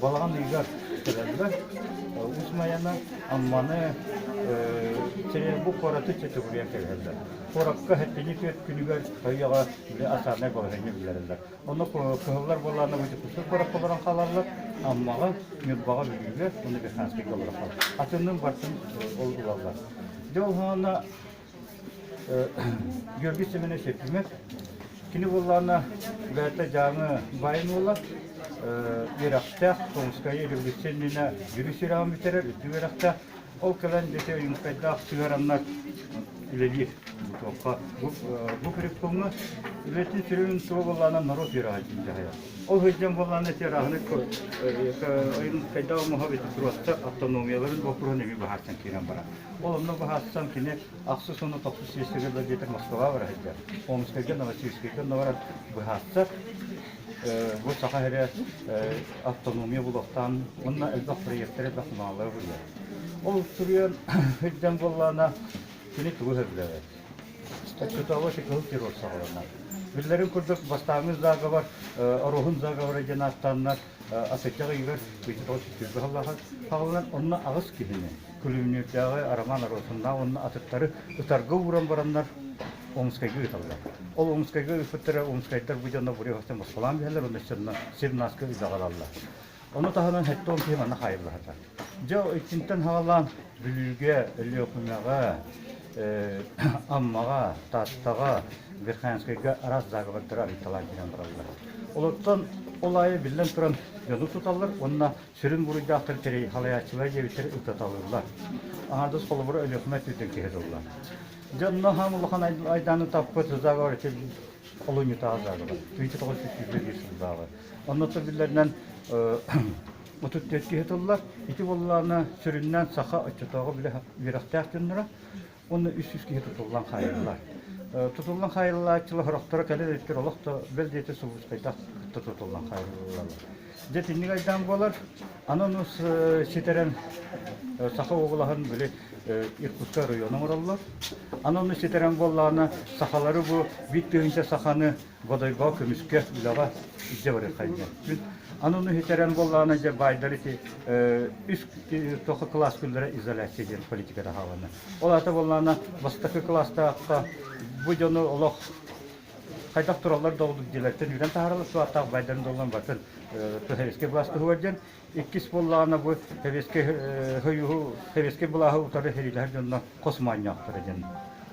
Балаҕан ыйыгар кэлэллэр. Усмайана, Амманы, Теребу куораты чөчөгүрүйэн кэлэллэр. Куоракка хэттини түөрт күнүгэр өйөҕө асаанай балаһыанньа биллэрэллэр. Онно кыһыллар буоллаҕына бытыкусук барахха олорон хаалаллар. Аммаҕа, Ньурбаҕа, Бүлүүгэ, уонна Верханскайга олорон хаалаллар. Атынным-бартым ол ылаллар. Дьэ ол хоһоонно Георгий Семенович Ефимов, кини буоллаана бэйэтэ Дьааҥы байын уола, үөрэхтээх, Солнская революционная дьүрүс үрэҕин бүтэрэр үрдүк үөрэхтээх, ол кэлэн бити ойуункайдаах сыгараннар үлэлиир бутуохха. Бу, бу куриккуҥҥа үлэтин сүрүн тула буоллаана норуот үөрэҕин дьаһайа. Ол сылдьан буоллаана тиэраһыны ойуункайдаах оҥоһо бити туруатта автономияларын боппуруһун эмиэ баһаартан киирэн барар. Ол онно баһаатсан кини ахсыс уонна тохсус сиэстэрэ да диэтэр Москваҕа бара сылдьар. Омскайга, Новосибирскайга онно баран быһаатса, бу саха эрэ автономия булуохтаан уонна элбэх проектары, элбэх маалары булуyor. Ол суруйан сылдьан буоллаана кини тугу сөрдөөбөт. Очутовочи кыһыл террор саҕаланар. Биллэрин курдук, бастааҥы заговор, Ороһун заговора диэн ааттааннар, атычча ыйыгар, быйчатоҕо сүтүрбэ халлаха хаалынан, онно аҕыс киһини Күлүүмнүүрдээҕи Роман Росуннаах уонна атыттары ытарга ууран бараннар Омскайга ыыталлар. Ол Омскайга ыыппыттара омскайдар бу дьоно Буреевовтан босхолоон биһэлэр уонна сьонно сир нааска ыйдаҕалаллар. Ону таһынан сэттэ уон киһи манна хаайыллыбата. Дьэ, итинтэн хаҕалаан Бүлүүгэ, Өлүөхүмэҕэ, Аммаҕа, Тааттаҕа, Верхоянскайга араас заговордары арыйталаан киирэн бараллар. Олортон ол аайы биллэн туран дьону туталлар уонна Сүрүн буруйдаахтар дьэрэй халайааччылар диэбиттэр ытаталыыллар. Аҥардас холобура Өлүөхүмэ өттүттэн киһи тыллар. Дьонно хаан улахан айдааны таппыт заговор олунньутааҕы заговор 1972 сыллааҕы. Оннотто биллэринэн 34 киһи тыллар. Ити буоллаҕына сүрүннээн саха оччотооҕу били үөрэхтээх дьонноро уонна үс сүүс киһи тутуллан хаайыллар. Тутуллан хаайыллааччылар сорохторо кэлэр иттэр олох да бэл диэти сулууспайдах кытта тутуллан хаайыллаллар. Дьэ тинник айдаан буолар. Ананус ситэрэн Саха оҕолаһын били Иркутскай району оҥороллор. Ананус ситэрэн буоллаҕына сахалары бу бит тыһыынча саханы Бодойбоҕо көмүскэ, үлэҕэ илдьэ барыаххайдыа. Мин ананы иһитэрэн буоллаҕына, дьэ, баайдар ити үс туох кылаас күннэрэ изоляция диэн политиката хаалана. Ол аата буоллаҕына, бастакы кылаастаахха бу дьону олох хайдах тураллар да ордук диэлэртэн үүрэн таһаараллар, суаттаах баайдарын доллан батын туһэриэскэй былаас туһугар диэн Иккис буоллаҕына бу сэбиэскэй хойууһу, сэбиэскэй былааһы утары сэриилэһэр дьонно хос моонньоохторо диэн.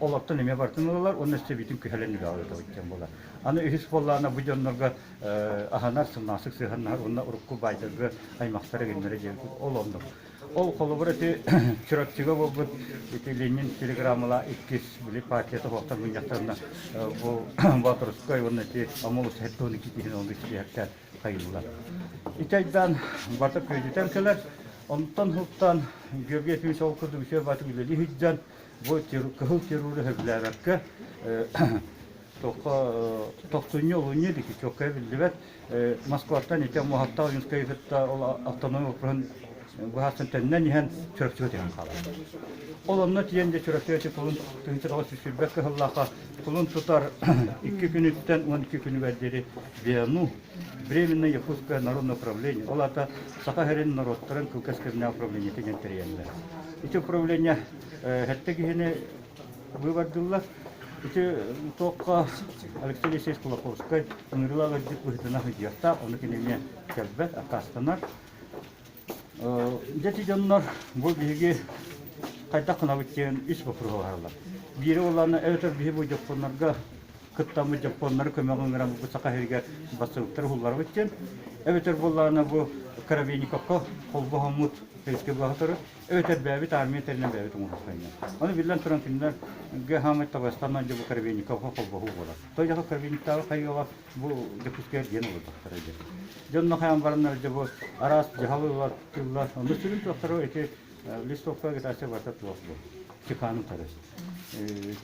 Олортон эмиэ барытын ылалар уонна өстөбүүтүн күһэлэн үлэҕэ ыытабыт буолар. Аны үһүс буоллаҕына бу дьоннорго аһынар, сымнаҕастык сыһыаннаһар уонна урукку баайтарга аймахтара гыннара диэбит ол оннук. Ол холобур ити Чурапчыга буолбут ити Ленин телеграммалаах иккис били партията оһохтон мунньахтарына бу Батурскай уонна ити Омол устуһэр туһунан киитиһин ол кичилиһэртэ хайыыллар. Ити айдаан барда күөдьүтэн кэлэр, онтон хултан Георгий Ефимович ол курдук үтүө батык үлэлии сылдьан бу кыһыл террору сөбүлээбэккэ тохсунньу олунньу диэки чокка биллибэт Москваттан ити Муһаттаах Ойунскайы кытта ол автономия округун быһаастан төннөн иһэн Чурапчыга тиһэн хаалар. Ол онно тиийэн де Чурапчыга тылын тыһынча тоҕо сүсүрбэт кыһыллаахха кулун тутар икки күнүттэн уон икки күнүгэр диэри ВИАНУ Временное Якутское народное управление, ол аата Саха сирин норуоттарын кылгас управлениетын диэн тэрийэллэр. Ити управление хэттэ киһини быыбардыллар. Ити туохха Алексей Алексеевич Кулаковскай ыҥырыылаах быһыытынан сыдьыахтаах, ону кинини кэлбэт, аккаастанар. Дьэти дьоннор бу биһиги хайдах гынабыт диэн ис боппуруһаларылар. Биири буоллаана эбэтэр биһи бу дьоппоннорго кыттаммыт дьоппоннору көмөҕү ыҥыран бу саха иһигэр бассыылыктары уһулларабыт диэн эбэтэр буоллаана бу Коробейниковка холбоһоммут Советскай баһытары эбэтэр бэйэбит армия тэринэн бэйэбит оҥоһулхайна. Ону биллэн туран кинилэргэ хаамай табастан дьобу Коробейниковка холбоһуу буолар. Той жаха Коробейниктааҕы хайыла Бу Дьокуускай диэн олордохторо дьэ. Дьонно хайаан бараннар дьэ бу араас дьаһалы ылар, онно сүрүн туохтара ити листовка агитация барыта туох бу ЧК-ны утары.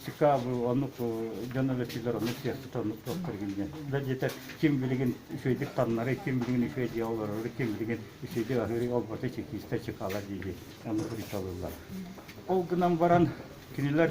ЧК бу оннук дьон өлөччүлэр оннук сиэхсит оннук туохтар гинген. Да диэтэ ким билигин үчүөйдүк таннары, ким билигин үчүөй дьиэ олорору, ким билигин үчүөйдүк аһыырый олботы чекистер ЧК-лар диэки оннук ритуалылар. Ол гынан баран кинилэр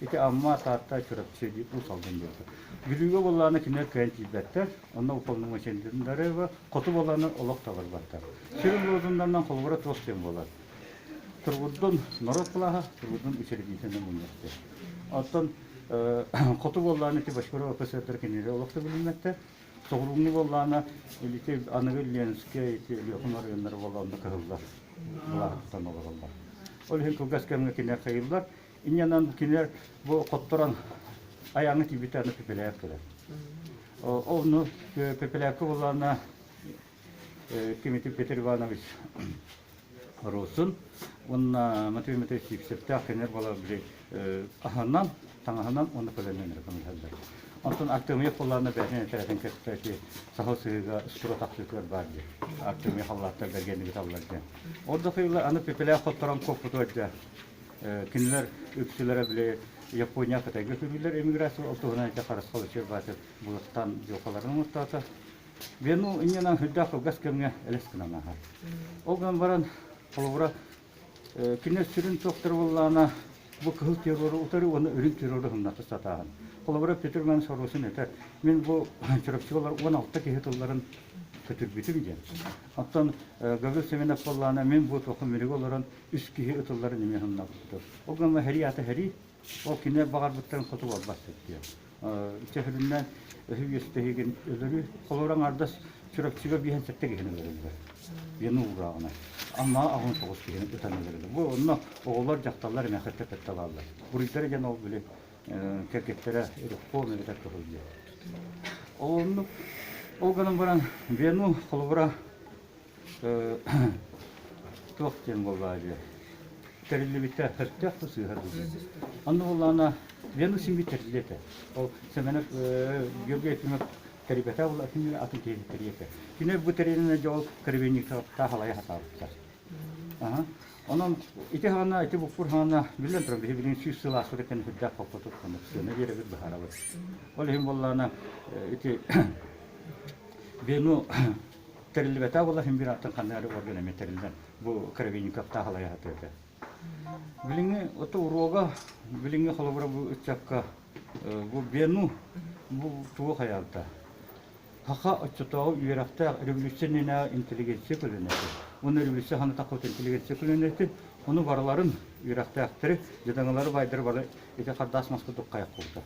Ити Амма, Таатта, Чурапчы уусалдын дьылҕата. Бүлүүгэ баллааны кинилэр кыайан тиийбэттэр, онно уполномоченнарыгар хоту баллааны олох таларбаттар. Сүрүн лозуннарынан холобура туох диэн буолар? Тургутдун норуот былааһа, тургутдун учредительнай мунньахтыа. Оттон хоту баллааны ити Бочкарова КСР кинилэр олох да билиммэттэр. Соҕурууҥҥу баллаана ити аныгы Ленскэй, Өлүөхүм оройуоннара баллаанна кыһыллар былааһа тутан олороллор. Ол иһин кылгас кэмҥэ кинилэр хайыыллар, инньэнэн кини бу хотторон айааны тиийбитэ пепеляев кэлэн. Онну пепеляевка буллаана Тимофей Петр Иванович Русун уонна Матвей Матвеевич Сипсептаах кинилэр болар били аһынан таҥаһынан уонна көлөннөн эрэ көмөлөһөллөр. Онтон Артемьев буллаана бэһин этэрэтин кытта ити саһыл сыһыыга сура тахсыытыгар баар диэн. Артемьев халлааттар бэргэннигит аллар диэн. Ордук ыйылла аны пепеляев хотторон коппуту өйдө. Кинилэр үксүлэрэ били Япония, Кытайга сүүрүүлэр эмиграция ол туһунан ити харысхал учуорбатын булустаан дьылҕаларын оҥостоото. Вену иннинэн үрдээх кылгас кэмҥэ элэс гынан ааһар. Ол гынан баран, холобура, кинилэр сүрүн суохтара буоллаҕына, бу кыһыл террору утары уонна үрүҥ террору humнатта сатааһын. Холобура, Петр Иванович Ороsin этэр, мин бу Чурапчыга олор уон алта киһи тылларын көтүрбүтүм диэн. Оттон Гаврил Семенов буоллаҕына, мин бу туохха минигэ олорон үс киһи ытылларын эмиэ саннабыттар. Ол гынан сэрии ата сэрии, ол кини баҕарбыттарын хоту буолбаттар диэн. Чэ, сөрүннээн өһү үөстэһигин өлөрү, холура аҥардас Чурапчыга биэһэн сэттэ киһини өлөрөллөр. Вена уурааҕына. Амма аҕын тоҕус киһини ытан өлөрөллөр. Бу онно оҕолор, дьахталлар эмиэ кытталлар. Буруйдара диэн ол били кэргэттэрэ Рябков эбэтэр Тоһуйдуо. Ол оннук. Ол гынан баран Вену холобура туох диэн буоллаадьы тэриллибитэ өстөөх да сыыһа дуу онно буоллаана вену сими тэрилетэ ол сэмэнек георгий ефимов тэрибэтэ ол атын атын киһи тэриэтэ кини бу тэриэнэ дьол кырбинника таахалайа хатаабыттар онон ити хана ити букпур хана биллэн туран биһи билин сүүс сыл ааспыт этэн үрдээх хоппотут кунук сыана биэрэбит баһарабыт ол иһин буоллаана ити вену тэриллибэтэ абыла имбираттан ханна эрэ орган эмиэ тэриллэн бу Кровенниковтаах алаяһата этэ. Билиҥҥи ото уруога билиҥҥи холобура бу ыччакка бу бену бу тугу хайалта хаха оччотооҕу үөрэхтээх революционнайа интеллигенция көлөнөтү уну революция хана тахпыт интеллигенция көлөнөтү уну барыларын үөрэхтээхтэри дьадаҥылары байдары бары ити хардаас маска дуккайах куута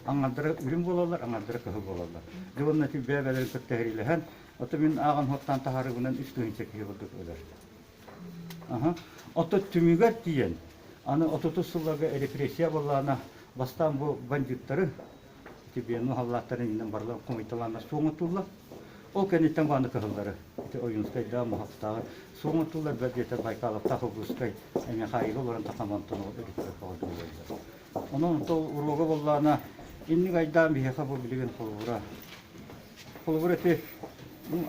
аҥардара үрүҥ буолаллар, аҥардара кыһыл буолаллар. Дьылынна тилбээбэлэрин кытта сэриилэһэн, оттон мин ааҕан-уоттаан таһаарыыбынан үс тыһыынча киһи курдук өлөр. Аһа. Оттон түмүгэр тиийэн, аны отутус сылларга репрессия буоллаҕына, бастаан бу бандьыыттары, тибиэну халлааттарын иннинэн барыларын хомуйталаана суох оҥотуллар. Ол кэнниттэн аны кыһыллары, ити Ойуунскайдааҕы, Муһахтааҕы суох оҥотуллар, бэрт диэтэр Байкаловтаах, Ылгыскай, Михаилы олорон Тахамантан олорор өрүттэр баҕайытык буоллар. Онон ол уруога буоллаҕына, инник айдаан биһиэхэ бу билигин холобура. Холобура ити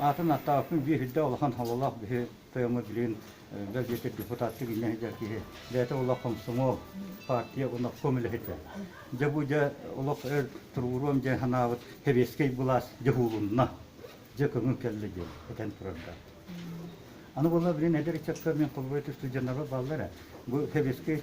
аатын ааттаабаппын биэһирдэ улахан хололоох биһи тойоҥҥо билигин бэл диэтэр депутатка гиннэ сылдьар киһи бэйэтэ олох хомсомуол партия уонна ком үлэһитэ дьэ бу дьэ олох өр туругуруом дьэ санаабыт сэбиэскэй былаас дьэ уулунна дьэ көҥүл кэллэ диэн этэн турарга аны буолла билин эдэр ыччакка мин холобура сылдьаннарбар бааллар бу сэбиэскэй